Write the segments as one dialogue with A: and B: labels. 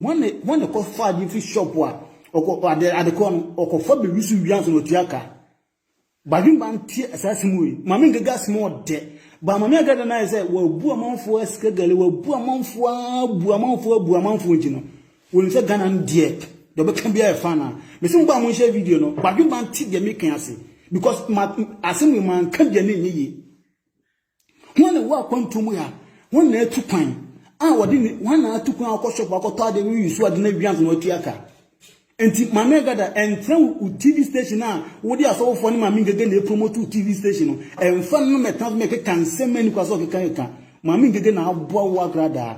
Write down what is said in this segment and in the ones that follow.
A: Wɔn ne wɔn na ɛkɔfa ade firi shop a ɔkɔ ade adekorɔ no ɔkɔfa biribi so wia nso na ɔtua ka badwemba ntie saa asɛm wei maame nkaga asɛm ɔdɛ ba maame agada no ayɛ sɛ wabu amanfoɔ asika gale wabu amanfoɔ abu amanfoɔ abu amanfoɔ nti no wɔnim sɛ ghana no deɛ deɛ ɔbɛka biara ɛfa no a mese mo ba mo nhyɛ video no badwemba nte deɛ meka ase because ma asɛm wei manka deɛ ne nyɛ yie Hwan na ɛwɔ akwantuo mu ha? Hwan na atu kwan a wɔde ne hwan na atu kwan akɔ shop akɔtɔ adeɛ no yi so ade no awie ansa na watua ka? Nti Maame Agada ɛntra wo TV station a wode asɔfofoɔ ne Maame Ngege na ɛpromote wo TV station no ɛmfa no na mɛtena so mɛkeka nsɛm a ɛni kwa sɛ ɔkeka keka. Maame Ngege na aboa wo agradaa.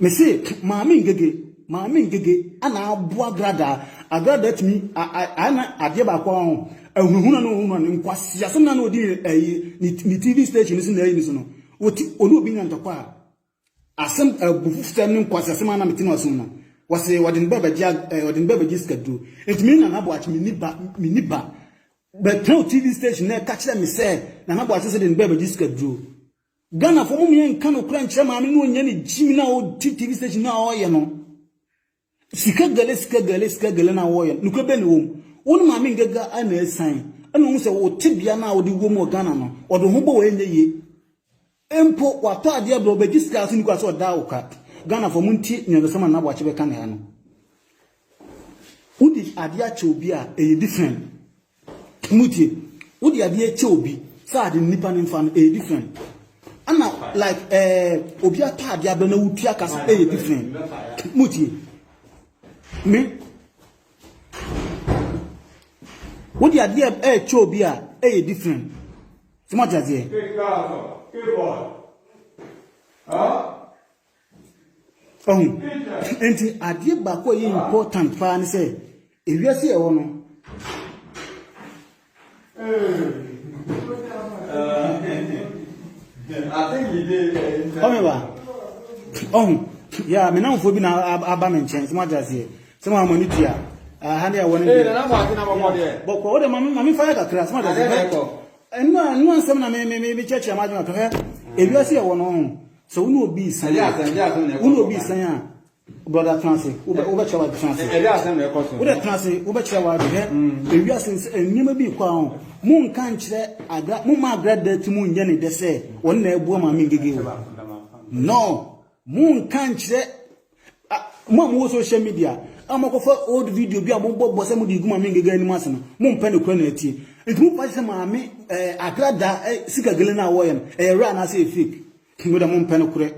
A: Mese Maame Ngege, Maame Ngege na aboa Agradaa. Agradaa tumi ayɛ na adeɛ baako a ho, ahunahuna no ahunahuna no, nkwasea so na na ɔdi ɛyi ne TV station so na ɛyi ne so no, ɔti ɔne obi nya ntɔkwa a, Asɛm abufusɛm ne nkwaseasɛm a na mete mu asom no, wɔse wɔde ne ba bɛgye wɔde ne ba bɛgye sikaduro. Enti me ne Nana Boakye menni ba menni ba. Bɛtɛw TV station na ɛka kyerɛ me sɛ Nana Boakye sɛ de ne ba bɛgye sikaduro. Ghanafoɔ mommyɛ nka nokorɛ nkyerɛ maame na ɔnyɛ ne gyimi no a ɔdi TV station no a ɔreyɛ no. Sika gɛlɛ sika gɛlɛ sika gɛlɛ na wɔyɛ no nokorɛ bɛn na ɛwɔ mu wo ne maame ngaga na ɛsan ɛna ɔhu sɛ wo tebea no a wode wɔ mu wɔ Ghana no ɔde ho bɔ wɔ ɛnyɛ yie mpo watɔ adeɛ brɛ ɔbɛgye sika ase nukura sɛ ɔda wo ka Ghanafoɔ mo ntie nea ɔdɔsɛma na aboakye bɛka ne ha no wode adeɛ akyɛ obi a ɛyɛ different Motie, wode adeɛ kyɛ obi sɛ ade no nipa no mfa no ɛyɛ different ɛna like ɛɛ obi atɔ adeɛ abrɛ na wotua ka sɛ ɛyɛ different. Motie, me wode adeɛ ɛkyɛ obi a ɛyɛ different. Sɛ mo ate aseɛ. Ɔho, enti adeɛ baako a ɛyɛ important paa ne sɛ, ewiase a ɛwɔ no,
B: ɔme ba,
A: ɔho, yɛ a me namfoɔ bi na aba me nkyɛn, sɛ mo agye aseɛ, sɛ mo amani tua, aha ne ɛwɔ ne deɛ, bɔkɔ, wode ma me fa yɛ kakra, sɛ mo agye aseɛ, ɛno a, ɛno a nsɛm na me, me, me, me kyerɛkyerɛ m'adwene ato hɛ, ewiase a ɛwɔ no, ɔho. Sɛ wo ne obi resan a, wo ne obi resan a, brɔda tena ase, wobɛkyerɛ w'ade tena ase. Wodɛ tena ase, wobɛkyerɛ w'ade. Hwɛ, ewiase nsɛ nneɛma bi rekɔ a, monka nkyerɛ agra, momma agra da ti mu nyɛ ne dɛ sɛ ɔno na ɛboa Maame Ngege o. No, monka nkyerɛ Ah, mo a mowɔ social media a mokɔfa old video bi a mobɔbɔ sɛ mode gu maame ngega anim ase no mompɛ no kora na atie nti mopa sɛ maame eh, akrada eh, sika gele no a wɔyɛ no ɛyɛ werɛ anaasɛ yɛ fake moda mompɛ no korɛ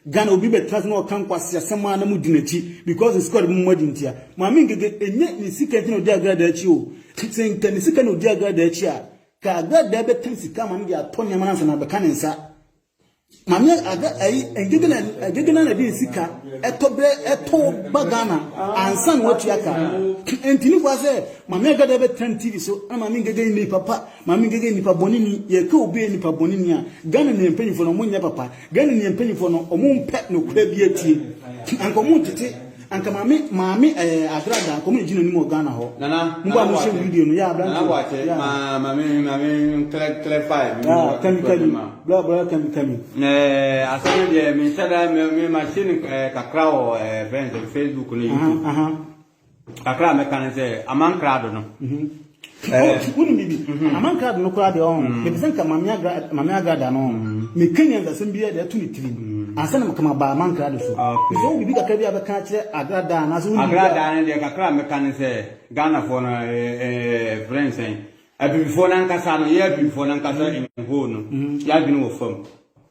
A: Ghana obi bɛtena se na ɔka nkwase asɛm a na modi n'akyi because sika ɔde mo adi ntia maame ngege ɛnyɛ ne sika nti na ɔdi agradaa akyi o sɛ nka ne sika na ɔdi agradaa akyi a ka agradaa bɛtɛm sika ma no de atɔ nneɛma no ansa na abɛka ne nsa Maame ada ayi agyagyina agyagyina na de sika ɛtɔ bɛ ɛtɔ ba Ghana ansa na watua ka ntini kwa sɛ maame agada bɛ tɛn TV so na maame ngege ni papa maame ngege nipa bɔne ni yɛ ka obi nipa bɔne ni a Ghana ni mpanyinfo na ɔmo nyɛ papa Ghana ni mpanyinfo no ɔmo mpɛ no kura bi atie anka ɔmo ntete Anka maame maame ɛɛ adra da anka ɔmo na egyina anim wɔ Ghana hɔ. Nana mo ba mo hyɛ video no yeah abrante. Nana boakye yeah. Ma maame maame nkle kle fire mi. Yeah kami kami bra bra kami kami. Ɛɛ asɛm no
B: deɛ mi nhyɛ da mi mi ma hyɛ ni ɛɛ kakra wɔ ɛɛ friends facebook ne youtube. Aha aha. Kakra mɛka ne sɛ amankrado no. Mm -hmm.
A: Coach, wonim biribi? Amankrado no koraa deɛ ɔho, mepɛ sɛ nka Mame Agrada no ho, meka nyansasɛm biara de ato ne tirim, ansa na maka maba Amankrado so. Mepɛ sɛ wo wɔ biribi kakra bi a wobɛka akyerɛ Agrada anaasɛ wonim biribi a. Agrada no deɛ kakra a mɛka ne sɛ, Ghanafoɔ no, yɛfrɛ no sɛn, Abibifoɔ no ankasa no, yɛn Abibifoɔ no ankasa in whole no, yɛn adwene wɔ fam.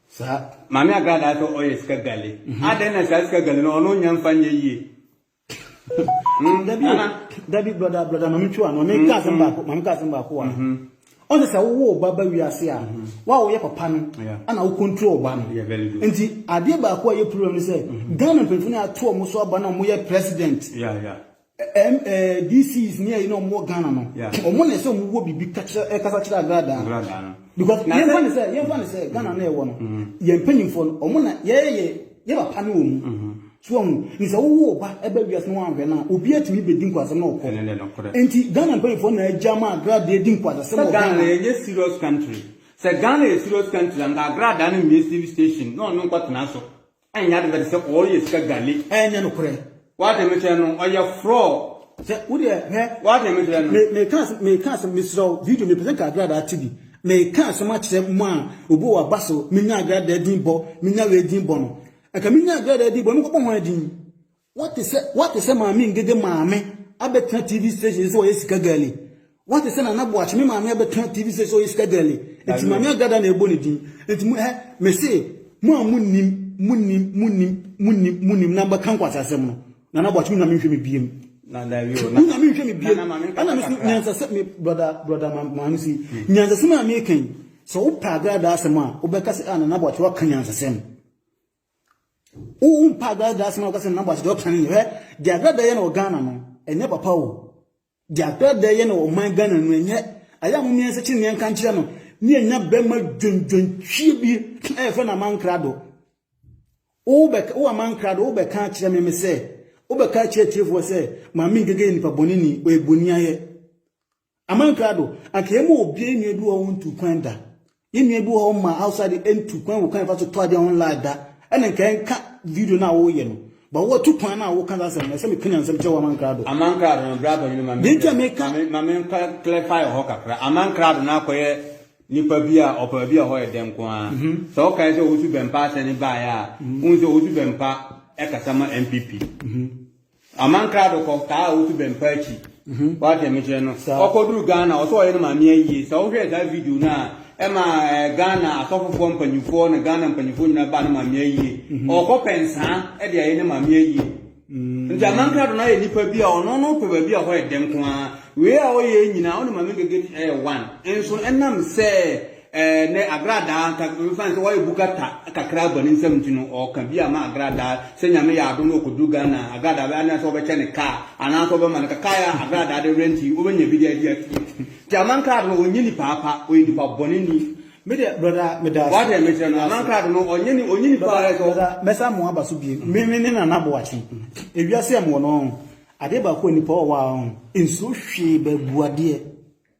A: Saa. Mame Agrada sɛ ɔyɛ sika gale. Adɛn na saa sika gale no ɔno nnya mfa nyɛ yie? Mm, dabi o dabi broda broda maame twi wa no maame ka asɛm mm-hmm. baako maame ka asɛm baako wa mm-hmm. ɔn sɛ sɛ wowɔ ɔba ba wiase a mm-hmm. wa a wɔyɛ papa no ɛna wo control ɔba no nti adeɛ baako a yɛ problem no sɛ ghana mpanyinfo no ato ɔmo so aba na ɔmo yɛ president dcs ne ɛyi na ɔmo wɔ ghana no ɔmo na ɛsɛ ɔmo wɔ biribi kasa kyerɛ agradaa because yɛn fa ne sɛ yɛn fa ne sɛ ghana na ɛwɔ no yɛn mpanyinfo no ɔmo na yɛyɛ yɛ. Yɛ papa ne wɔ mu. So wahu? Nti sɛ wowo wo ba ba wiase na wanhwɛ no a, obiara tumi bedi nkwaseasɛm na ɔkɔ. Nti Ghana mpanyimfoɔ na agya ma agradaa di nkwaseasɛm wɔ Ghana. Sɛ Ghana yɛnyɛ serious country. Sɛ
B: Ghana yɛ serious country a, nka agradaa no mmue TV station na ɔno nkɔtena so nyɛ ade bɛte sɛ ɔreyɛ sika gale. Ɛnyɛ nokorɛ.
A: W'ate me kyerɛ no,
B: ɔyɛ frɔɔ. Sɛ wo deɛ hwɛ.
A: W'ate
B: me kyerɛ no. Me me ka asɛm me ka
A: asɛm mesrɛ wo video mepɛ sɛ nka agradaa te bi me ka asɛm akyerɛ mo a obi wɔ w'aba so me nya agradaa din bɔ me nya wei din bɔ no nka me nya agradaa din bɔ me kɔ bɔ hwan din w'ate sɛ w'ate sɛ maame ngege maame abɛtena TV station sɛ ɔyɛ sika girl yi. Woate sɛ Nana Boakye, me maame abɛka TV sɛ sɛ ɔyɛ sika girlie, nti maame agada na ɛbɔ ne din, nti mo ɛ, mese mo a monim, monim, monim, monim, monim na mbɛka nkwasi asɛm no, Nana Boakye wonya menhwɛ me biem. Na dabi o, na.
B: Wonya menhwɛ me biem.
A: Ɛna me so nyansasɛ, me brɔda, brɔda ma, ma no si, hmm. nyansasɛm a meka yi, sɛ wopɛ agradaa asɛm a, wobɛka sɛ, ah, Nana Boakye waka nyansasɛm. Wompa agradaa asɛm a wobɛka sɛ Nana Boakye deɛ ɔka ne yɛ, hwɛ, deɛ agradaa yɛ na wɔ Ghana no, ɛnyɛ papa o. Deɛ Dada yɛ no ɔman Ghana no ɛnyɛ ayɛ a momia nsa kyineɛ nka nkyerɛ no ne ɛnya bɛma dwendwentwie bi a yɛfrɛ no amankrado wobɛka wo amankrado wobɛka akyerɛ me me sɛ wobɛka akyerɛ atiefoɔ sɛ maame ngege yɛ nipa bɔne ni ɔyɛ bɔni ayɛ amankrado anka yɛma obiara nnua bi wɔ wo ntu kwan da Yɛn nua bi wɔ hɔ ma outside de ɛntu kwan wɔ kwan ɛfa so tɔ adeɛ on live da ɛna nka ɛnka video no a woyɛ no ba wɔtu kwan no a woka saa asɛm no ɛsɛ meka nyansam kyɛ wɔ aman krado. Aman krado no bra bɔnyini
B: ma me nka ma me nka clarify wɔ hɔ kakra aman krado no akɔyɛ nipa bi a ɔpɛ baabi a hɔ yɛ dɛ nko ara mhm. sɛ wokae sɛ ɔwusu bɛmpa asɛne baeɛ a mhm. wohu sɛ ɔwusu bɛmpa ɛkasa ma MPP mhm. Aman krado kɔ taa a wotu bɛmpa akyi. Wate me kyerɛ no. Ɔkɔduru Ghana ɔsɛ ɔyɛ ne maame ayie. Sɛ wohwɛɛ saa video no a ɛma Ghana asɔfofoɔ mpanyinfoɔ ne Ghana mpanyinfoɔ nyinaa baa ne maame ayie. Ɔkɔ pɛ nsaa ɛde ayɛ ne maame ayie. Nti aman krado no ayɛ nipa bi a ɔno no pɛ baabi a hɔ yɛ dɛ nko ara. Wei a ɔyɛ nyinaa ɔne maame gege ɛyɛ one. Nso ɛnam sɛ Ɛnnɛ, agradaa nka mfa nsɛ wayɛ bu kata kakra aba ne nsam nti no, ɔɔka bi ama agradaa. Sɛ Nyame yɛ adom na ɔkɔduru Ghana a, agradaa bɛyɛ anaasɛ wɔbɛkyɛ no kaa, anaasɛ wɔbɛma no ka. Kaa yɛ a agradaa de rent yi, wobɛnya bi de adi akyire. Nti amankrado no, ɔnyɛ nipa pa, ɔyɛ nipa bɔne ni. Me deɛ brɔda
A: meda ase. Wate deɛ mekyerɛ no? Amankrado
B: no, ɔnyɛ ni, ɔnyɛ nipa pa, ɛsɛ ɔ. Mɛsa mo aba so bio.
A: Me, me ne Nana Boakye. Ewiase a mewɔ no, ɔn, adeɛ baako a nipa ɔwɔ a, ɔn, nsuro hwee baabuadeɛ.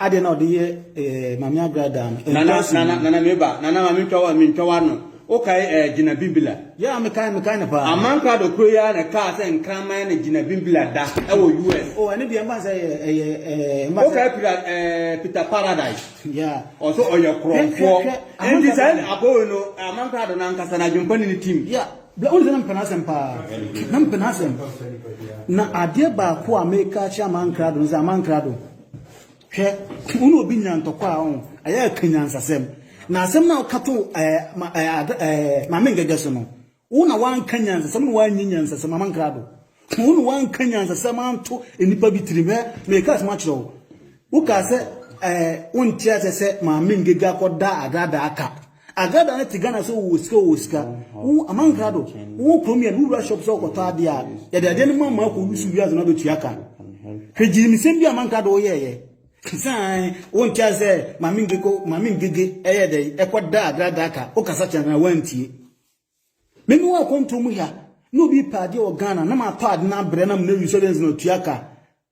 A: Adeɛ na ɔde yɛ eh, Maame Agra daa no. Nana, Ɛndaase nana, yi. nana
B: meba. Nana ma mentwa wa, mentwa wa no. Wokae eh, Gina Bimbila? Yeah, mekae, mekae no
A: paa. Amankrado koro yi ara na
B: ɛkaa sɛ nkraman ne Gina Bimbila da wɔ US. Oh, ɛno deɛ mfa nsɛ yɛ,
A: ɛyɛ, eh, mfa nsɛ. Wokae Peter,
B: eh, Peter Paradise? Yeah. Ɔso
A: ɔyɛ Hwɛ, hwɛ,
B: korɔmfoɔ. hwɛ, Enti sɛ Amankrado. abɔwe no, Amankrado no ankasa na adwempa ne ne tim. Yeah, bla, wone sɛ na mepɛ
A: n'asɛm paa. Na mepɛ n'asɛm. Na adeɛ baako a meka akyerɛ Amankrado no sɛ, Amankrado, Hwɛ, wo ne obi nya ntɔkwa a ɔn, ɛyɛ ɛka nyansasɛm. Na asɛm no a woka to ɛɛ ma ɛɛ ad ɛɛ maame ngɛgɛ so no, wo na woanka nyansasɛm, wo na woannye nyansasɛm, maame nkrado. Wo na woanka nyansasɛm anto nnipa bi tirim. Hwɛ, merekaa asɛm akyerɛ wo. Wokaa sɛ ɛɛ wonte aseɛ sɛ maame ngɛgɛ akɔda adraadaa ka. Agrada no te Ghana sɛ wowɔ sika wowɔ sika, wo Amankra do, wowɔ kurom yɛ no, wowura shop sɛ wokɔtɔ adeɛ a, yɛde adeɛ no ma ma akɔ lusu wiase no abɛtua ka. Hwɛ gyirimisɛm bi a Amankra do woyɛɛyɛ. Sane, wonte ase sɛ Maame Ngege, Maame Ngege ɛyɛɛ dɛn, ɛkɔdaa Agrada aka, wokasa kyerɛɛ no a wantie. Me mewɔ akwantuo mu ha, na obi repɛ adeɛ wɔ Ghana, na matɔ ade no abrɛ no ama no awie sɛ ɔde no sɛ na ɔtua ka.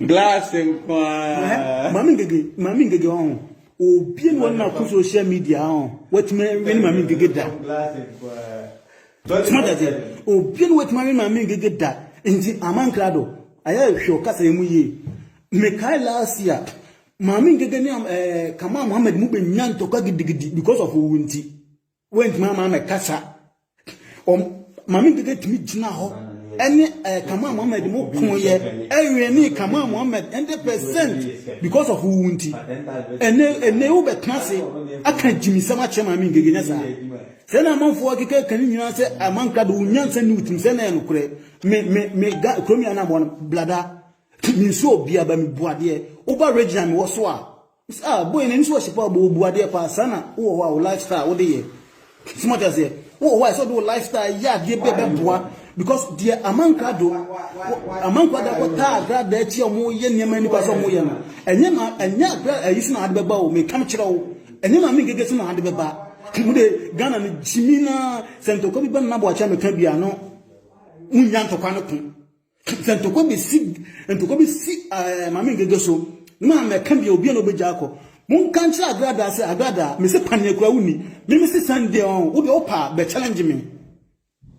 B: Glass nko ara. Maame ngege,
A: maame ngege ɔho. Obie no na ko social media ɔho. Watumi win maame ngege da. Glass nko ara. Tuma da se. Obie no watumi win maame ngege da. Nti amankra do. Ayɛ hwɛ ɔkasa emu yie. Mekai last year. Maame ngege ne eh Kamal Mohammed mu benya ntɔkwa gidigidi because of owu nti. Woantumi ama me kasa. Maame Ngege tumi gyina hɔ ɛne ɛɛ eh, Kamal Mohammed mo ko yɛ ɛwɛn ne Kamal Mohammed hundred percent because of wo nti. Ɛnɛ ɛnɛ wo bɛ tena se aka gyimisɛm akyerɛ Maame Ngege nyɛ saa. Sɛ na amanfoɔ akeka ka ne nyinaa sɛ amanka do wo nyansa ne wotim sɛ na ɛyɛ nokorɛ. Me me me ga kurom yɛ anamɔ blada. Mensuo obiara ba me bu adeɛ. Woba regional mewɔ so a Ah boy na nso ɔhyɛ paa bɔ bu adeɛ paa saa na wowɔ hɔ a wo lifestyle wode yɛ soma te aseɛ wowɔ hɔ a ɛsɛ wode wo lifestyle yɛ adeɛ bi a ɛbɛboa because deɛ amankwa do amankwa da kɔ taa agra da akyi a wɔn yɛ nneɛma nipa sɛ wɔn yɛ no ɛnyɛ ma ɛnyɛ agra ayi so na ade bɛba o mekam kyerɛ wo ɛnyɛ ma me ngege so na ade bɛba mu de Ghana no gyimi na sɛ ntɔkwa bi bɛ nna bɔ akyɛ meka bi ano wonya ntɔkwa no ko Sɛ ntɔkwa bi si ntɔkwa bi si ɛɛ maame ngege so na mɛka deɛ obi a na ɔbɛgya akɔ. Monka nkyerɛ agradaa sɛ agradaa mese paneɛ kura wonni meme se Sunday ɔn wodeɛ wopa bɛ challenge me.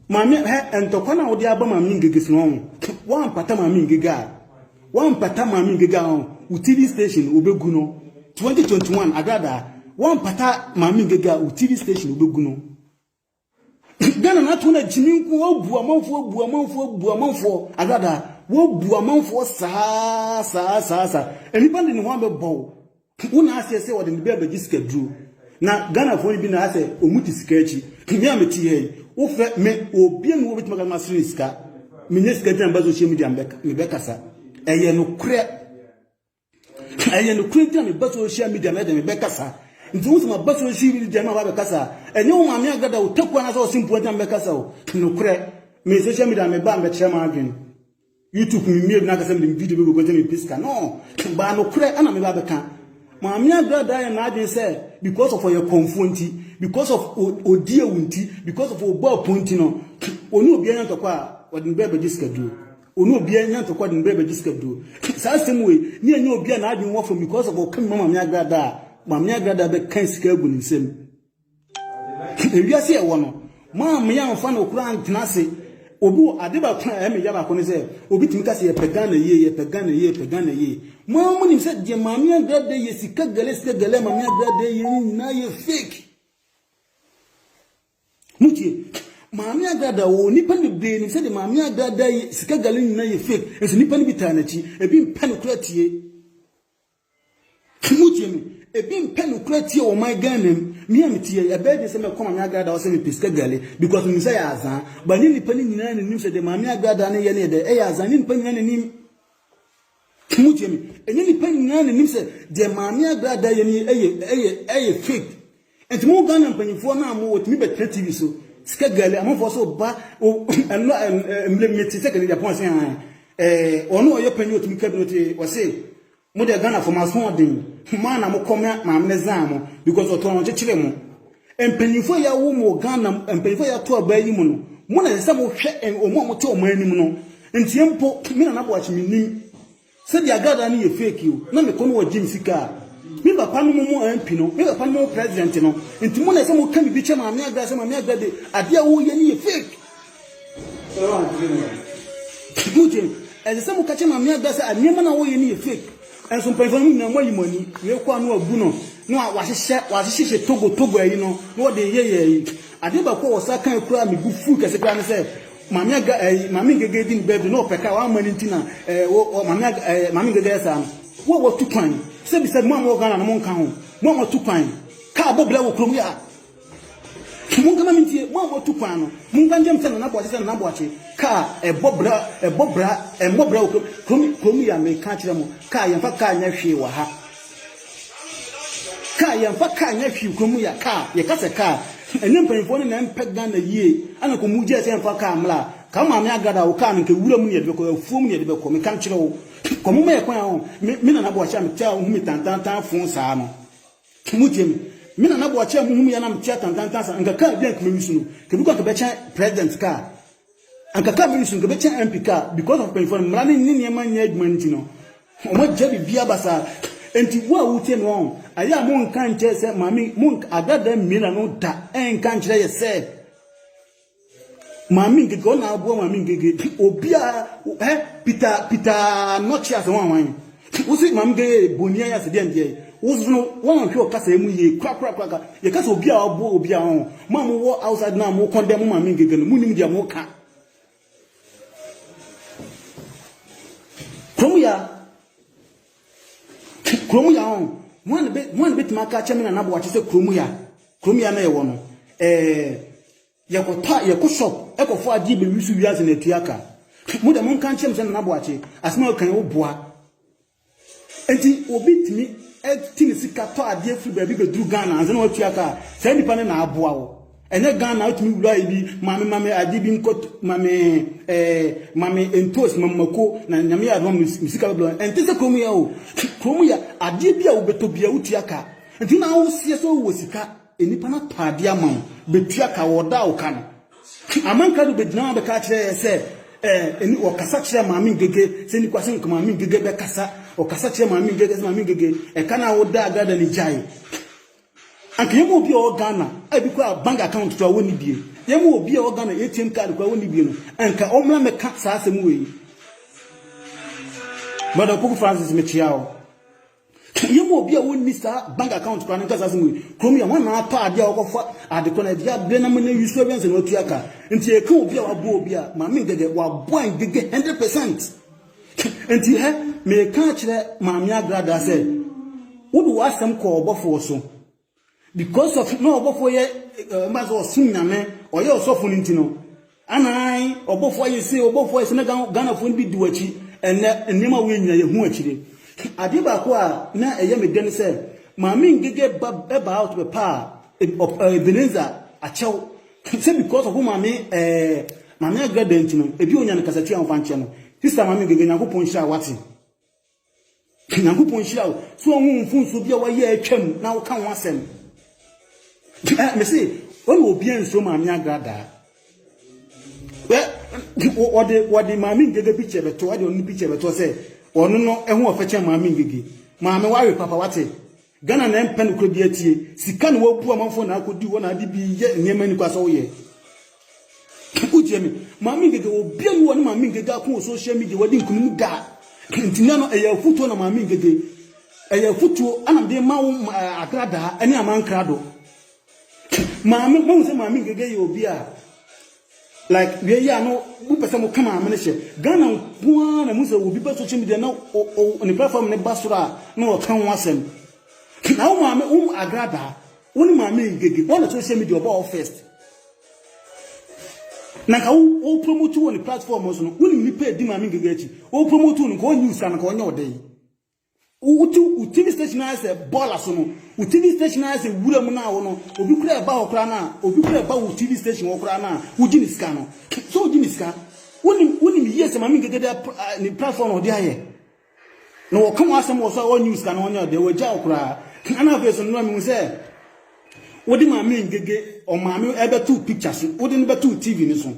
A: Maame hɛ ntɔkwa no a wode aba maame ngege so no ɔn woampata maame ngege a woampata maame ngege a ɔn wo TV station wobɛgu no 2021 agradaa woampata maame ngege a wo TV station wobɛgu no. Ghana na ato na gyimi nko obu amanfoɔ obu amanfoɔ obu amanfoɔ agradaa wobu amanfoɔ saa saa saa saa nipa de ne ho abɛbɔ wo wo na aseɛ sɛ wɔde ne bɛ abɛgye sika duro na Ghanafoɔ yi bi na asɛ ɔmu te sika akyi me a mete ha yi wofrɛ me obie ne wɔbɛtumi ka ma sere sika menyɛ sika gyina ba social media mebɛkasa ɛyɛ nokorɛ Ɛyɛ nokorɛ nti na meba social media na ɛde me bɛkasa. Nti wo sɛ maba social media na waba bɛkasa a, ɛnyɛ wo maame agada wo takuo anaasɛ ɔsempua nti na mebɛkasa o. Nokorɛ, me social media na mebaa mbɛkyerɛ m'adwene. YouTube memmie bi na akasɛ mede me video bɛgu nti na mepɛ sika. No, baa nokorɛ ɛna meba bɛka. Maame agrada ayɛ n'adwene sɛ because of ɔyɛ kɔmfoɔ nti, because of ɔdi awu nti, because of ɔbɔ apo nti no, ɔne obiara nya ntɔkwa a, ɔde me bɛɛ bɛgye sika duro. Ɔne obiara anya ntɔkwa de ne bere abɛgye sika duro. Saa asɛm wei, ne ɛnyɛ obiara n'adwene wɔ fam because of ɔka bi ma Maame Agrada a, Maame Agrada bɛkan sika agu ne nsam. Ewiase a ɛwɔ no, Maame yi amfa no koraa antena ase. Obi wɔ ade baako a ɛyɛ me ya baako ne sɛ, obi tumi ka sɛ yɛpɛ Ghana yie, yɛpɛ Ghana yie, yɛpɛ Ghana yie. Mo ara monim sɛ deɛ Maame Agrada yɛ, sika gɛlɛ sika gɛlɛ a Maame Agrada yɛ no nyinaa yɛ fake. Motie, Maame Agrada oo, nnipa bebree nim sɛdeɛ Maame Agrada yi sika gale nyinaa yɛ fake, nso nnipa no bi taa n'akyi, ebi mpɛ no koraa tie. Motie me, ebi mpɛ no koraa tie wɔ ɔman Ghana mu, me a metie, ɛbɛyɛ den sɛ mɛkɔ Maame Agrada hɔ sɛ mepɛ sika gale, because menim sɛ ɛyɛ azaa, but ɛnyɛ nnipa no nyinaa na ɛnim sɛ deɛ Maame Agrada no yɛ no yɛ dɛ, ɛyɛ azaa, ɛnyɛ nnipa nyinaa na ɛnim. Mo tie me. Ɛnyɛ nipa nyinaa na nim sɛ deɛ maame agradaa yɛ no ɛyɛ ɛyɛ ɛyɛ fake. Nti mo Ghana mpanyinfoɔ naa mo wɔtumi bɛtena TV so. Sika gɛlɛ amanfoɔ so ba o ɛno ɛmmerɛ mu mete sɛ kɛnɛ Japan ɔse han. Ɛɛ ɔno ɔyɛ panyin ɔtumi ka bi no te ɔse mo deɛ Ghana fo mo aso ɔden. Mo a na mo kɔ maame ne zaa mo because ɔtɔn ɔkyekyere mo. Mpanyimfo a yɛawo mo wɔ Ghana mu, mpanyimfo a yɛato abaa yi mu no, mo na ɛsɛ sɛ mohwɛ wɔn a wɔte wɔn anim no. Ntie mpo, me Nana Boakye menim sɛ deɛ agradaa no yɛ fake o, na mekɔ na wɔgye me sika a, me papa nom mo MP no, me papa nom mo President no, nti mo na ɛsɛ sɛ moka biribi kyerɛ Maame Agra sɛ Maame Agra de adeɛ a woreyɛ no yɛ fake. Putin, ɛsɛ sɛ moka kyerɛ Maame Agba sɛ nneɛma na wɔyɛ no yɛ fake. Ɛnso mpanyinfoɔ no nyinaa moayi mo ani. Wei kɔ a na wabu no na wahyehyɛ wahyehyɛ togo togo ayi no na wɔde yɛ yɛ ayi. Adeɛ baako a wɔsan kan kura me bu fuu kɛse kura ne sɛ Maame Agba ayi Maame Ngege di ne birthday na ɔpɛ kaa wamma ne nti na ɛɛ wɔ Maame Agba ɛɛ Maame Ngege yɛ saa no. Wo a watu kwan sɛbisɛbi mo a mowɔ Ghana no monka ho mo a moatu kwan kaa bɔ bra wɔ kurom yɛ a. Monka ma mentie, mo a moatu kwan no, monka nkyerɛ me sɛ Nana Boakye sɛ Nana Boakye, kaa a ɛbɔ bra ɛbɔ bra ɛmmɔ bra wɔ kurom kurom kurom yi a meka akyerɛ mo, kaa yɛmfa kaa nyɛ hwee wɔ ha. Kaa yɛmfa kaa nyɛ hwee kurom yi a kaa yɛka sɛ kaa ɛne mpanyinfoɔ no na ɛmpɛ Ghana yie ɛna kɔ mu gyae sɛ yɛmfa kaa mmra a kaa maame agrada a wo kaa no nka wura mu ne yɛde bɛkɔ afuo mu ne yɛde bɛkɔ meka kyerɛ wo kɔ mo ma yɛ kwan a me me Nana Boakye a metaa hu me tantantan fon saa no Kemu gyem. Me na na boakye a muhu me yɛ na me te atantantan saa anka car bi a anka me use no ka bi kɔ anka bɛkyɛn president car anka car me use no ka bɛkyɛn MP car because of mpanyinfoɔ no mmara ne ne nneɛma nyɛ adwuma no ti no wɔn agya bibia basaa enti wo a wotie me wɔn ayɛ a mo nka nkyɛ sɛ maame mo agradaa mmiena no da ɛnka nkyerɛ yɛ sɛ Maame Ngege ɔna aboa maame Ngege obia eh Peter Peter nɔkye ase wan wan wosi maame Ngege boni ayɛ ase deɛ ndeɛ wosi no wɔn hwɛ ɔkasa emu yie kura kura kura ka yɛ kasa obia aboa obia ho mo a mo wɔ outside na mo kɔn dɛ mo maame Ngege no mo nim deɛ mo ka kurom ya. Kurom ya ɔn. Hwan na bɛ hwan na bɛtumi aka akyerɛ me na n'aboa te sɛ kurom ya? Kurom ya na yɛwɔ no, ɛɛ yɛkɔtɔ a yɛkɔ shop ɛkɔfɔ adeɛ bɛwi so wiase na atua ka. Mo deɛ monka nkyerɛ me sɛ Nana Boakye, asɛm a wokan yi woboa. Enti obi tumi ti ne sika tɔ adeɛ firi baabi bɛduru Ghana ansa na watua ka a, saa nipa no na aboa wo. Ɛnyɛ Ghana wotumi wura ayɛ bi maame maame ade bi nkɔ maame ɛɛ maame ntoos maame mako na nyame yɛ adoma mi sika bɛbla ɛnte sɛ kurom yɛ o kurom yɛ adeɛ bi a wobɛtɔ bia wotua ka nti na woseɛ sɛ wowɔ sika nnipa no atɔ adeɛ ama wo bɛtua ka wɔda wo ka no amanka do bɛgyina ho bɛka kyerɛ yɛ sɛ ɛɛ ɔkasa kyerɛ maame ngege sɛ nnipa sɛ nka maame ngege bɛkasa ɔkasa kyerɛ maame ngege sɛ maame ngege ɛka no a woda agrada ne gyae Anka yɛma obi a ɔwɔ Ghana a ebi koraa bank account koraa wɔnni bie, yɛma obi a ɔwɔ Ghana ATM card koraa wɔnni bie no, anka ɔmmra mmɛka saa asɛm wei. Brɔda Opoku Francis, mekyea wo. Ka yɛma obi a ɔnni saa bank account koraa no nka saa asɛm wei. Kurom yɛ hwan na atɔ adeɛ a ɔkɔfa ade kɔ na ɛde abrɛ na manya wi so awia ansa na watua ka. Nti yɛka obi a waboa obi a, Maame Ngege, waboa Ngege 100%. Enti hɛ, mereka akyerɛ Maame Agradaa sɛ wode w'asɛm kɔ ɔbɔfoɔ so. Because of na ɔbɔfoɔ yɛ mba sɛ ɔsom Nyame, ɔyɛ ɔsɔfo no nti no, anaae ɔbɔfoɔ ayɛ sei, ɔbɔfoɔ ayɛ sei, na Ghanafoɔ no bi di w'akyi. Ɛnnɛ, nneɛma wei nyina yɛhu akyire. Adeɛ baako a na ɛyɛ me dɛ ne sɛ, Maame Ngege ba ɛbaa ɔtɔpɛ paa, Ebenezer Akyɛw Sɛ because of wo maame ɛɛ maame agrada nti no ebi onya ne kasatua ɔmfa nkyɛ no sister maame gege nyankopɔn nhyira wate nyankopɔn nhyira wo so ɔho mfunso bi a wayɛ atwam na woka ho asɛm ɛ mese wɔn obi nso maame agrada ɛ wɔde wɔde maame gege picture bɛto ɛde ɔno picture bɛto sɛ ɔno no ɛho ɔfɛkyɛ maame gege maame ware papa wate Ghana na ɛmpɛ nokorɛ bi atie. Sika na wabu amanfoɔ na akɔdi hɔ na ade bi yɛ nneɛma nni kwa sɛ woyɛ. Wotie me? Maame Ngege, obiara nni hɔ a ɔne Maame Ngege ako wɔ social media, wadi nkunim da. Nti nnɛ no, ɛyɛ afutuo na Maame Ngege, ɛyɛ afutuo na mede rema wo Agradaa ne Amankrado. Maame, moahu sɛ Maame Ngege yɛ obi a. Like wei yɛ a na mo pɛ sɛ mo kama amene hyɛ. Ghana nko ara na mu sɛ obi ba social media na ne platform ne ba soro a na ɔka ho asɛm. Na wo maame wo agradaa wo ne maame ngege wɔn na social media ɔbɔ wo first. Na nka wo wo promote wɔ ne platform so no wo ne nipa edi maame ngege akyi wo promote no nka ɔnyi usa no nka ɔnyɛ ɔdɛ yi. Wo ti wo TV station ayɛ sɛ bɔɔla so no, wo TV station ayɛ sɛ wura mu na wo no, obi kura ɛba hɔ koraa na obi kura ɛba wo TV station hɔ koraa na wogye ne sika no. So wogye ne sika? Wonim wonim yie sɛ Maame Ngegede eh, ne platform na ɔde ayɛ. Na wɔka wɔn asɛm wɔ so a wɔnyi wo sika no wɔnyɛ ɔdeɛ wɔagya wo koraa. Ɛna afei so no na mehu sɛ wode Maame Ngege ɔmaame ɛbɛto picture so, wode no bɛto TV no so.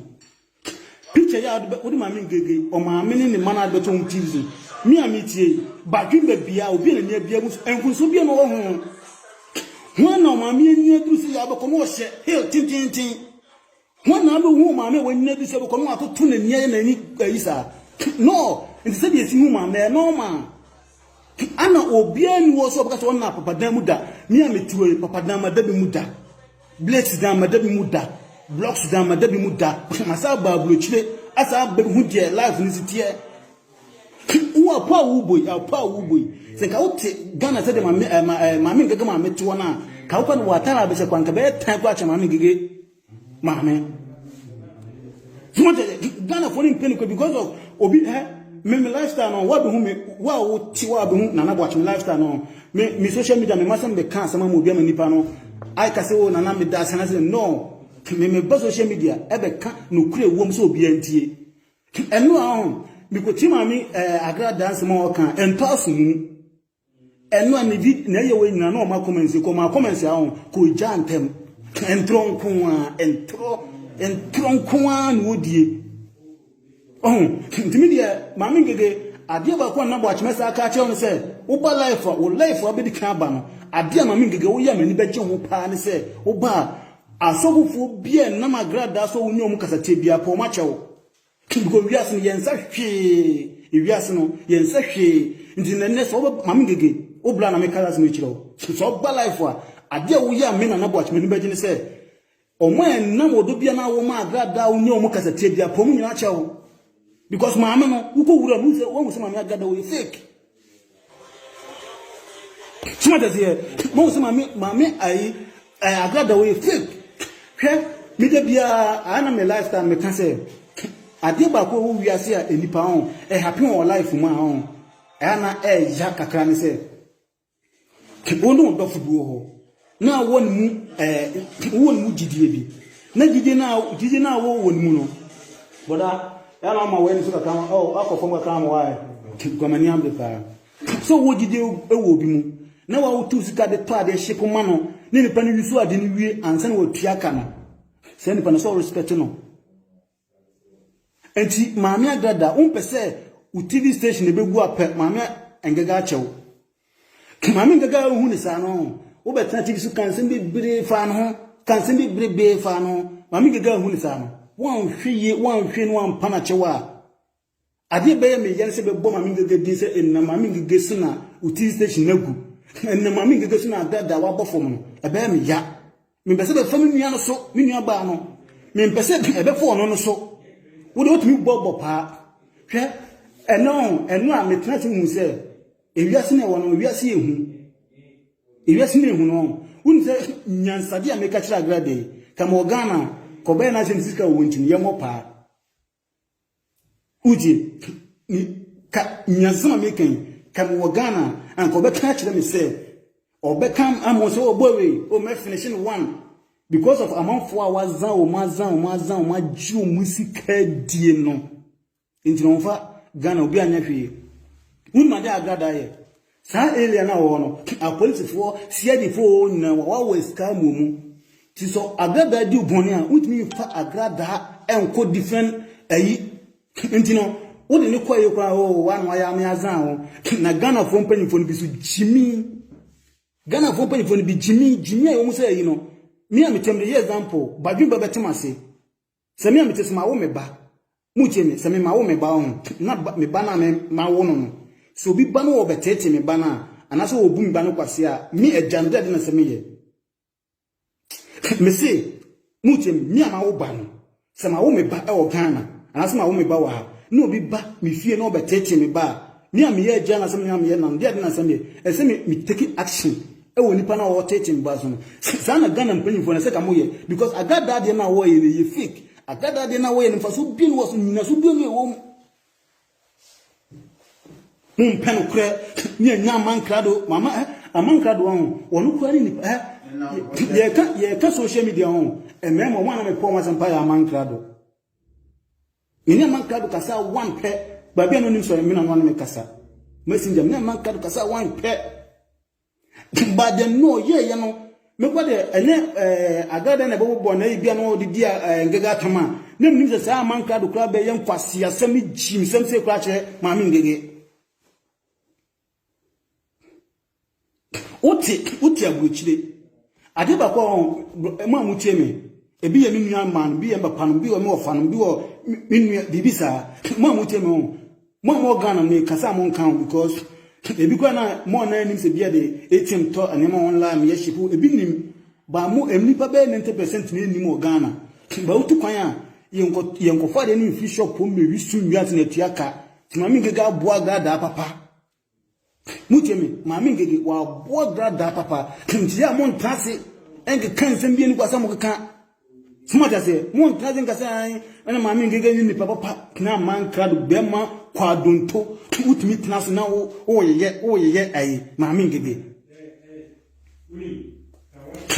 A: Picture yi a wode bɛ wode maame Ngege ɔmaame ne ne mma no a bɛtɔ ho tips no me a metie yi badwen bɛ bia obi a n'ani abia mu so nkunso bia na ɔwɔ ho ho a na ɔmaame ani aduru sɛ yɛ abɛkɔ no ɔhyɛ heel tententen ho a na abɛhu ɔmaame a w'ani aduru sɛ abɛkɔ no atoto n'ani ayɛ n'ani ayi saa no nti sɛ deɛ ɛsi hu maame ɛyɛ normal ana obiara ni wɔ so ɔbɛka sɛ ɔna papadan mu da me a metiwɔ yi papadan ma da bi mu da Blades dze ama da bi mu da, blocks dze ama da bi mu da, masan aba aburokyire asan abɛhu deɛ life no si teɛ. Wo apo a wobɔ yi, apo a wobɔ yi, sɛ nka wote Ghana sɛdeɛ maame ɛɛ ma ɛɛ maame ngege maame teɔ no a, ka wokɔ no wɔatare abɛhyɛ kɔ anka bɛyɛ tan koraa kyɛ maame ngege maame. Wɔde Ghanafoɔ no mpɛ no kɔ because of obi ɛ me me lifestyle no wɔabɛhu me wo a wote wɔabɛhu Nana Boakye me lifestyle no. Me me social media me masɛm bɛka asɛm ama obi ama nipa no ayɛ ka sɛ o oh, nana meda ase anasɛ no me meba social media ɛbɛka nokorɛ wom sɛ obiara ntie ɛno a ho mekɔtie maame eh, agradaa nsɛm a ɔka ɛntɔ aso mu ɛno a ne bi na ɛyɛ wɔ nyina na ɔma kɔmɛnsi kɔ ma kɔmɛnsi ahɔ kɔgya ntɛm ntorɔ nko a ntorɔ ntorɔ nko a na ɔdie Ɔho, nti me deɛ Maame Ngege, adeɛ baako a na Boakyema saa ka akyerɛ wo ne sɛ, woba life a, wo life a wobɛdi kan aba no, adeɛ a Maame Ngege woyɛ a m'ani bɛgye ho paa ne sɛ, woba a, asɔfofoɔ biara nnam agradaa so a wonni wɔn kasatia biara, pɛ wɔn akyɛ wo. Because wiase no, yɛn nsa hwee, wiase no, yɛn nsa hwee, nti na nnɛ sɛ wobɛ, Maame Ngege, wo bra na meka asɛm yi kyerɛ wo, sɛ woba life a, adeɛ a woyɛ a me Nana Boakyema ani bɛgye ne sɛ, Ɔmo a ɛnam ɔdɔ bia na wo maa Agrada a wonyɛ ɔmo kasatia bia pɛ ɔmo nyinaa kyɛ wo. Because maame no wokɔ wura no wosɛ wahu sɛ maame Agrada wɔyɛ fake. Soma tɛseɛ mahu sɛ maame maame ayi eh, Agrada wɔyɛ fake. Hwɛ meda biara ayɛ na me lifestyle meka sɛ adeɛ baako ɛwɔ wiase a nnipa ɔn ɛhape wɔn life mu a ɔn ɛyɛ na ɛɛya kakra ne sɛ Wo ne wo dɔfo bi wɔ hɔ na wowɔ ne mu ɛɛ wowɔ ne mu gyidie bi na gyidie no a gyidie no a wowɔ ne mu no bɔda ɛna ama w'ani so kakra ma oh, akɔ fam kakra ma waayɛ guamani amde paa sɛ wowɔ gyidie wɔ obi mu na wawotu sika de tɔ adeɛ hye koma no ne nipa no wi so ade no wie ansa na watua ka no sɛ nipa no sɛ ɔrespɛte no Enti maame agrada wompɛ sɛ wo TV station ɛbɛgu a pɛ maame ngaga akyɛ wo. Maame ngaga wohu ne saa no wobɛtena TV so ka nsɛm bebree faa ne ho ka nsɛm bebrebe faa no maame ngaga wohu ne saa no woanhwɛ yie woanhwɛ no ampa no akyɛ wo a Ade ebɛyɛ me ya ne sɛ bɛbɔ Maame Ngege din sɛ nnɛ Maame Ngege so na wo TV station no agu. Nnɛ Maame Ngege so na Adad a wabɔ fam no, ɛbɛyɛ me ya. Mempɛ sɛ ɛbɛfa me nua no so, me nua baa no. Mempɛ sɛ ɛbɛfa ɔno no so. Wo deɛ wotumi bɔ bɔ paa. Hwɛ, ɛnɛ o, ɛno a metena ase hu sɛ ewiase na ɛwɔ no, ewiase yɛ hu. Ewiase na ehu no, wonim sɛ nyansade a meka kyerɛ Agrade, ka ma wɔ Ghana, kɔbɛyɛ n'asɛm sika wɔ nti no, yɛmmɔ paa. Wogye me ka nyansam a meka yi ka mewɔ Ghana anka ɔbɛka akyerɛ me sɛ ɔbɛka ama sɛ ɔbɔ oh, wei o oh, mɛfinihye no one because of amanfoɔ a wazan wɔn azan wɔn azan wɔn agye wɔn sika die no nti na wɔn fa Ghana obi anyɛ hwee wunuma de agrada yɛ. Saa area no a wɔwɔ no, apolisifoɔ, CID foɔ nyinaa wɔawawa sika amuo mu. Nti sɛ agradaa di wo bɔne a, wontumi mfa agradaa nkɔ different ayi. Nti no, wode no kɔeɛ koraa oo, wo ano ayɛ ame azan wo. Na Ghanafoɔ mpanyimfoɔ no bi nso gyimi. Ghanafoɔ mpanyimfoɔ no bi gyimi, gyimi a ɛwɔ mu sɛ ayi no, me a metam de yɛ example, Badwemba bɛte m'ase. Sɛ me a mete so mawo me ba, motie me, sɛ me mawo me ba ɔho, na ba, me ba no a me, mawo no no, sɛ obi ba no wɔ ɔbɛteetee me ba no a, anaasɛ wɔ ɔbu me ba no kwasea a, me, agya no, dɛn na sɛ meyɛ? Mese, motie me, me a mawo ba no, sɛ mawo me ba wɔ Ghana, anaasɛ mawo me ba wɔ ha, na obi ba me fie na ɔbɛteetee me ba a, Me a meyɛ agya anaasɛ me a meyɛ nam, deɛ ade na asɛm yɛ. Ɛsɛ sɛ me me take action ɛwɔ nipa no a ɔretete mboa so no. Saa na Ghana mpanyinfoɔ no ɛsɛ ka mo yɛ because Agradaa deɛ no a wɔyɛ no ɛyɛ fake. Agradaa deɛ no a wɔyɛ no mfasoɔ bie ne wɔ so, nyinasoɔ bie ne ɛwɔ mu. Mo mpɛ no korɛ ne ɛnya ama nkrado, mama eh, ama nkrado ho, wɔn kura ne nipa eh. Yɛka, yɛka social media ho, ɛmɛɛma wɔn a na mepɔ wɔn asɛmpa yɛ ama nkrado. Me ne Amanka do kasa one pɛ. Baabi a na onim sɔre me na no ane me kasa. Messenger, me ne Amanka do kasa one pɛ. But deɛ no ɔyɛɛ yɛ no, mekɔ deɛ ɛnyɛ eh, adra dɛn na ɛbɛbobɔ na ebia na ɔde di eh, ngege atam a, na menim sɛ saa Amanka do koraa bɛyɛ nkwaseasɛm ne gyimsɛm sei koraa akyerɛ maame ngege. Wote wote aburokyire. Adeɛ baako a wɔn mo a motie me, ebi yɛ me nua mmaa no, ebi yɛ me papa no, ebi wɔ me wɔfa no, ebi wɔ me nua biribi saa. Mo a motie me wɔn, mo a mowɔ Ghana me kasa a mo nka ho because ebi kura na mo nan nim sɛ bia de ATM tɔ nneɛma online meyɛ ship ebi nim ba mo nnipa bɛyɛ 90% na nim wɔ Ghana. Ba wotu kwan a yɛnkɔ yɛnkɔfa adeɛ no mfiri shop mmɛwi so nwi ase na atua ka. Maame Ngege aboa gradaa papa. Motie me, Maame Ngege waboa gradaa papa. Nti yɛ a montra ase nkeka nsɛm bi ani kɔ asɛ mokeka. Mote aseɛ, montra ase nka sɛ ɛna Maame Ngege ne nipa papa tena mankra do bɛrima kwadonto wotumi tena so na woyeyɛ woyeyɛ ayi Maame Ngege.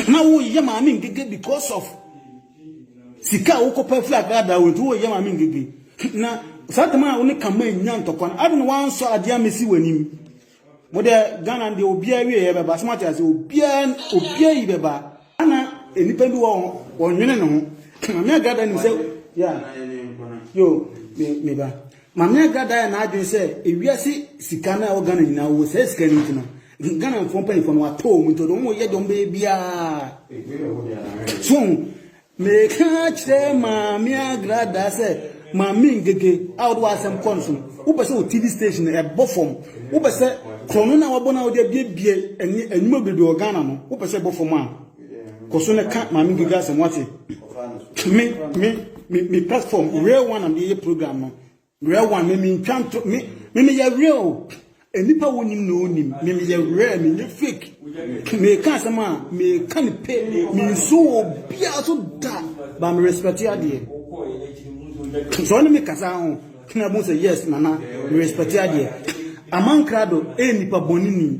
A: na woyɛ maame ngege because of sika a wokɔpa firi agradaa wɔ nti woyɛ maame ngege na saa tam a wo ne kama nya ntɔkwa no ade na wansɔ adeɛ amesi w'anim mo deɛ ghana deɛ obiara wie yɛ bɛba asoma te ase obiara obiara yi bɛba ana nnipa bi wɔ wɔnwene ne ho maame agradaa nim sɛ ya yo meba maame agradaa yɛ n'adwene sɛ ewiase sika no a ɛwɔ ghana nyinaa wɔ sɛ sika no nti no Ghana foɔ mpanyinfoɔ no atɔ wɔn nti wɔn yɛ deɛ wɔn bɛyɛ biara so meka kyerɛ maame agrada sɛ maame ngege a wɔde w'asɛm kɔ no so no wopɛ sɛ wɔ tv station ɛbɔ fam wopɛ sɛ korɔ no na wɔbɔ no a wɔde abiebie ɛne anwuma bebree wɔ ghana no wopɛ sɛ ɛbɔ fam a kɔ so na ka maame ngege asɛm wate me me me platform real one am de yɛ program no Werɛ one me me ntwa nto me me me yɛ real nnipa wo nim na onim me me yɛ werɛ me nyɛ fake me ka asɛm a me ka ne pe me nsu wo bia so da ba me respect adeɛ so ɔne me kasa ho kena bu sɛ yes nana me respect adeɛ amankrado e nipa bɔne ni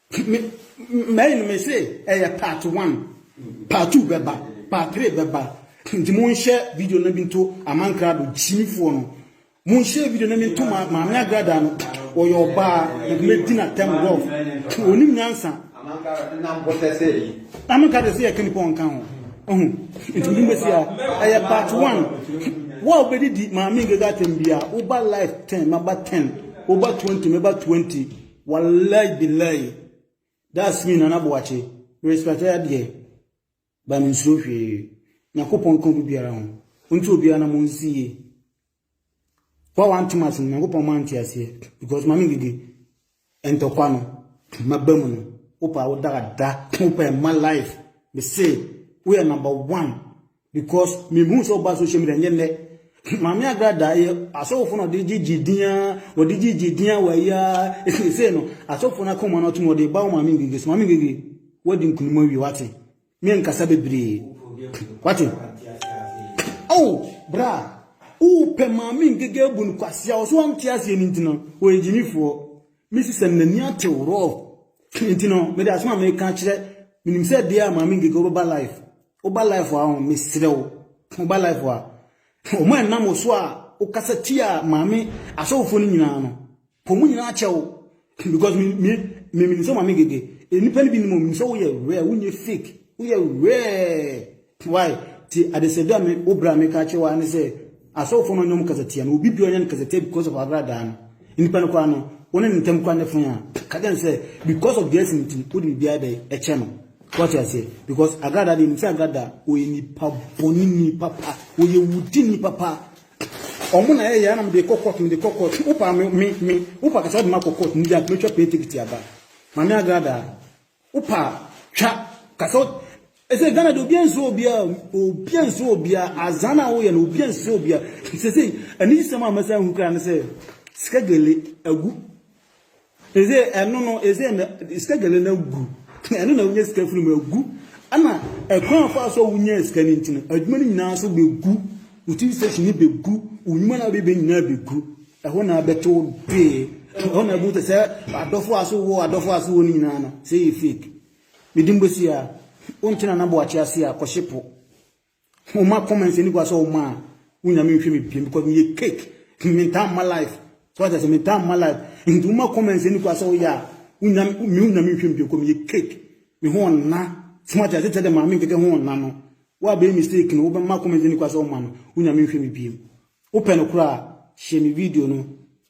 A: Me mɛyi no me se ɛyɛ part one part two bɛba part three bɛba nti mo nhyɛ video no bi nto amankrado gyimifoɔ no mo nhyɛ video no bi nto ma maame agrada no ɔyɛ ɔbaa na me di na tɛm rɔf onim nyansa amankrado se yɛ kanipa ɔnka ho ɔho nti mo bɛ si a ɛyɛ part one wo a wobɛdidi maame agrada tɛm bia woba life ten maba ten woba twenty maba twenty Wallay billay that's me Nana Boakye respect ɛ deɛ ba me nsuro hwee Nyankopɔn ka obi biara ho nti obiara na mo nsi yie wa wante mase no Nyankopɔn ma nte aseɛ because mame gidi ntɔkwa no maba mu no wopa wo dagada wopa ɛma life me se woyɛ number one Because me hu sɛ ɔba social media nyɛ nnɛ. Maame agrada yɛ asɔfo na ɔde gyegye din a ɔde gyegye din a wɔayi a ɛsɛ no asɔfo no akoma no atom ɔde ba wo maame ngege so maame ngege wadi nkunim awie wate me nkasa bebree wate oh bra wopɛ maame ngege abu no kwasea ɔso ante aseɛ no nti no ɔyɛ gyimifoɔ mesi sɛ n'ani atew rɔ nti no mede asoma meka kyerɛ menim sɛ deɛ a maame ngege wobɛba life Woba life a ɔn mesrɛ wo woba life a ɔmo a ɛnam wo so a wokasa tia maame asɔfofoɔ no nyinaa no pɔ ɔmo nyinaa kyɛ wo because me me me menim sɛ maame gege nnipa no bi nim ɔmo sɛ woyɛ rare wonyɛ fake woyɛ rare why ti adesɛdɛ a me wo bra me ka kyɛ wo ne sɛ asɔfofoɔ no ɔnyɛ ɔmo kasa tia no obi bi ɔnyɛ no kasa tia because of agradaa no nnipa no koraa no wɔne ne ntam koraa ne fon a ka kyɛ no sɛ because of this nti wode biribiara bɛ ɛkyɛ no Wate aseɛ? Because Agada deɛ, nim sɛ Agada ɔyɛ nipa bɔne ni papa, ɔyɛ wudi ni papa. Ɔmo na ɛyɛ na mede kɔ court, mede kɔ court. Wopa me, me, me, wopa kasa ɔde ma kɔ court, ndia me twa paintekiti aba. Mame Agada, wopa twa kasa ɛsɛ Ghana deɛ obia nso obia, obia nso obia, azan a woyɛ no obia nso obia. Sese, ɛni sɛm a mɛsɛ ahu kra ne sɛ, sika gele agu. Ese ɛno no ese na sika gɛlɛ no agu ɛno na wonya sika firi mu agu ɛna ɛkwan a fa so a wonya sika no nti no adwuma no nyinaa nso bɛgu wo tv station no bɛgu wo nnwuma no a wobɛbɛ nyinaa bɛgu ɛhɔ na abɛto wo dee ɛhɔ na ɛbu sɛ adɔfo a so wɔ adɔfo a so wɔ no nyinaa no sɛ yɛ fake mede mbɔsi a wonte na naboakye ase a kɔhye po Mo ma comments ani gua sɛ wo ma a wo nyame nhwɛ me biem because me yɛ cake me ntaa mma life so ata sɛ me ntaa mma life nti wo ma comments ani gua sɛ wo yɛ a wo nyame me wo nyame nhwɛ me biem because me yɛ cake me ho ɔnna so ata sɛ tɛ dɛ maame nkeke ho ɔnna no wo a bɛyɛ mistake no wo bɛ ma comments ani gua sɛ wo ma no wo nyame nhwɛ me biem wo pɛ no koraa hyɛ me video no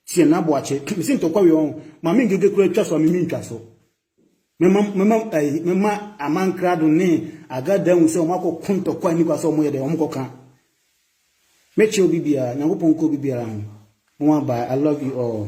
A: tiɛ na boakye me se ntɔkwa wei ɔn maame nkeke koraa twa so a me me ntwa so Mɛma aman krado ne Agada ahu sɛ wɔakɔko ntɔkwa a ɛnni kwa sɛ wɔyɛ dɛn, wɔkɔka. Mɛkyɛ obi biara, Nyankopɔn nka obi biara ho. Nwa bye, I love you all.